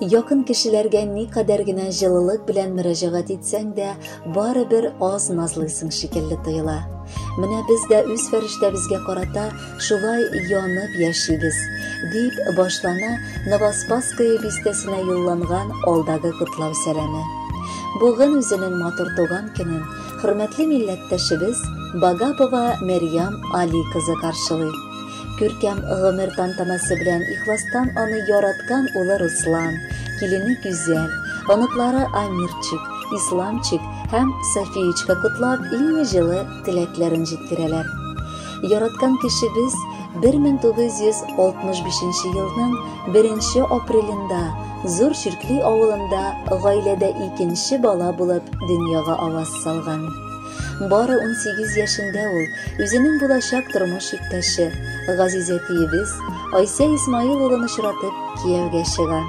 Якын кешеләргә никадәр генә җылылык белән мөрәҗәгать итсәң дә, барыбер аз назлыйсың шикелле тоела. Менә без дә үз фәрештәбезгә карата шулай янып яшибез, дип башлана Новоспасское бистәсенә юлланган алдагы котлау сәламе. Бүген үзенең матур туган көнен хөрмәтле милләттәшебез Багапова Мәрьям Али кызы каршылый. Күркәм гомер тантанасы белән ихластан аны яраткан улы Руслан, килене Гүзәл, оныклары Амирчик, Исламчик һәм Софиечка котлап иң җылы теләкләрен җиткерәләр. Яраткан кешебез 1965 елның 1 апрелендә Зур Чиркли авылында гаиләдә икенче бала булып дөньяга аваз салган. Бары унсигез яшендә ул үзенең булачак тормыш иптәше, газиз әтиебез Айсә Исмаил улын очратып, кияүгә чыга.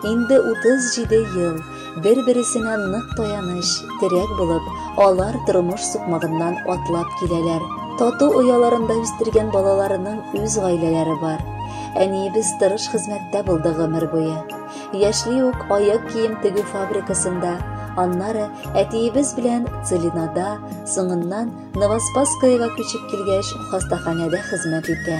Инде 37 ел бер-бересенә нык таяныч, терәк булып, алар тормыш сукмагыннан атлап киләләр. Тату ояларында үстергән балаларының үз гаиләләре бар. Әниебез тырыш хезмәттә булды гомер буе. Яшьли үк аяк кием тегү фабрикасында, аннары әтиебез белән Целинада, соңыннан Новоспасскоега күчеп килгәч, хастаханәдә хезмәт итә.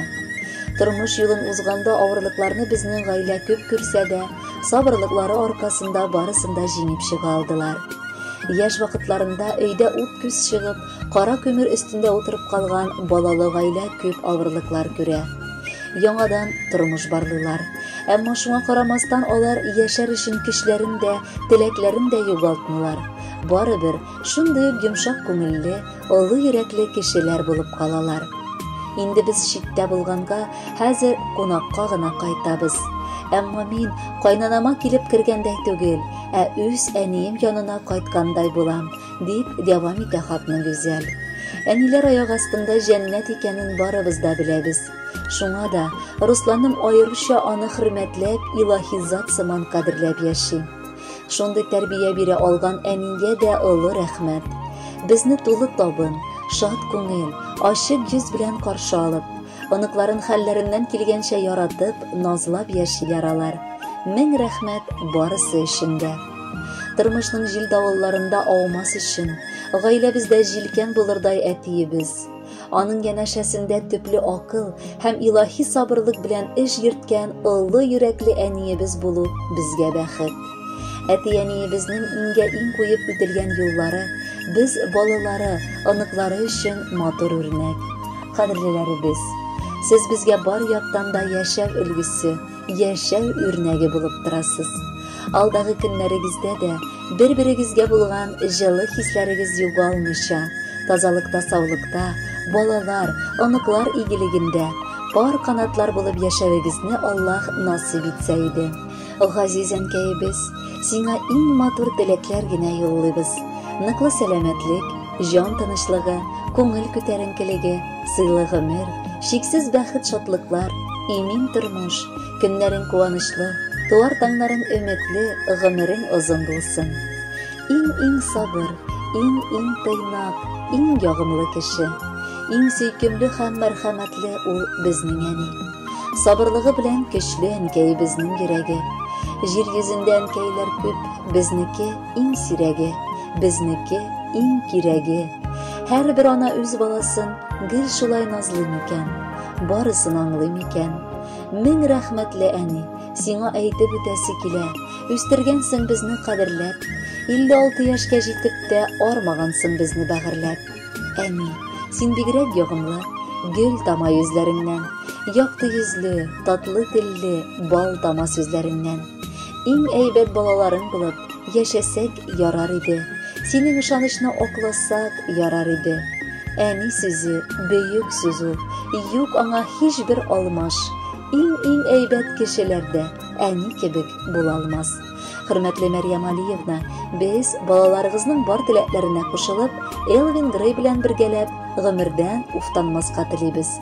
Тормыш юлын узганда авырлыкларны безнең гаилә күп күрсә дә, сабырлыклары аркасында барысын да җиңеп чыга алдылар. Яшь вакытларында өйдә ут-күз чыгып, Кара көмер өстендә утырып калган балалы гаилә күп авырлыклар күрә. Яңадан тормыш барлыйлар. Әмма шуңа карамастан алар яшәр өчен көчләрен дә, теләкләрен дә югалтмыйлар. Барыбер шундый ук йомшак күңелле, олы йөрәкле кешеләр булып калалар. Инде без читтә булганга, хәзер кунакка гына кайтабыз. Әмма мин кайнанама килеп кергәндәй түгел, ә үз әнием янына кайткандай булам. Дип дәвам итә хатны Гүзәл. Әниләр аяк астында җәннәт икәнен барыбыз да беләбез. Шуңа да Русланым аеруча аны хөрмәтләп, илаһи зат сыман кадерләп яши. Шундый тәрбия бирә алган әнигә дә олы рәхмәт. Безне тулы табын, шат күңел, ачык йөз белән каршы алып, оныкларын хәлләреннән килгәнчә яратып, назлап яшиләр алар. Мең рәхмәт барысы өчен дә. Тормышның җил давылларында аумас өчен, гаиләбездә җилкән булырдай әтиебез. Аның янәшәсендә төпле акыл һәм илаһи сабырлык белән эш йөрткән олы йөрәкле әниебез булу безгә бәхет. Әти-әниебезнең иңгә иң куеп үтелгән юллары без балалары, оныклары өчен матур үрнәк. Кадерлеләребез, сез безгә бар яктан да яшәү өлгесе, яшәү үрнәге булып торасыз. Алдагы көннәрегездә дә бер-берегезгә булган җылы хисләрегез югалмыйча, тазалыкта, саулыкта, балалар, оныклар игелегендә пар канатлар булып яшәвегезне Аллаһ насыйп итсә иде. Газиз әнкәебез, сиңа иң матур теләкләр генә юллыйбыз. Ныклы сәламәтлек, Җан тынычлыгы, күңел күтәренкелеге, сыйлы гомер, шиксез бәхет-шатлыклар, имин тормыш, көннәрең куанычлы, туар таңнарың өметле, гомерең озын булсын. Иң-иң сабыр, иң-иң тыйнак, иң ягымлы кеше. Иң сөйкемле һәм мәрхәмәтле ул безнең әни. Сабырлыгы белән көчле әнкәебезнең йөрәге. Җир йөзендә әнкәйләр күп, безнеке иң сирәге, безнеке иң кирәге. Һәрбер ана үз баласын гел шулай назлый микән? Барысын аңлый микән? Мең рәхмәтле әни, сиңа әйтеп үтәсе килә. Үстергәнсең безне кадерләп. 56 яшькә җитеп тә армагансың безне бәгырьләп. Әни, син бигрәк ягымлы, гел тама йөзләреңнән. Якты йөзле, татлы телле, бал тама сүзләреңнән. Иң әйбәт балаларың булып, яшәсәк ярар иде. Синең ышанычны акласак ярар иде. Әни сүзе, бөек сүз ул. Юк аңа һичбер алмаш. Иң-иң әйбәт кешеләр дә әни кебек була алмас. Хөрмәтле Мәрьям Алиевна, без балаларыгызның бар теләкләренә кушылып, Элвин Грей белән бергәләп гомердән уфтанмаска телибез.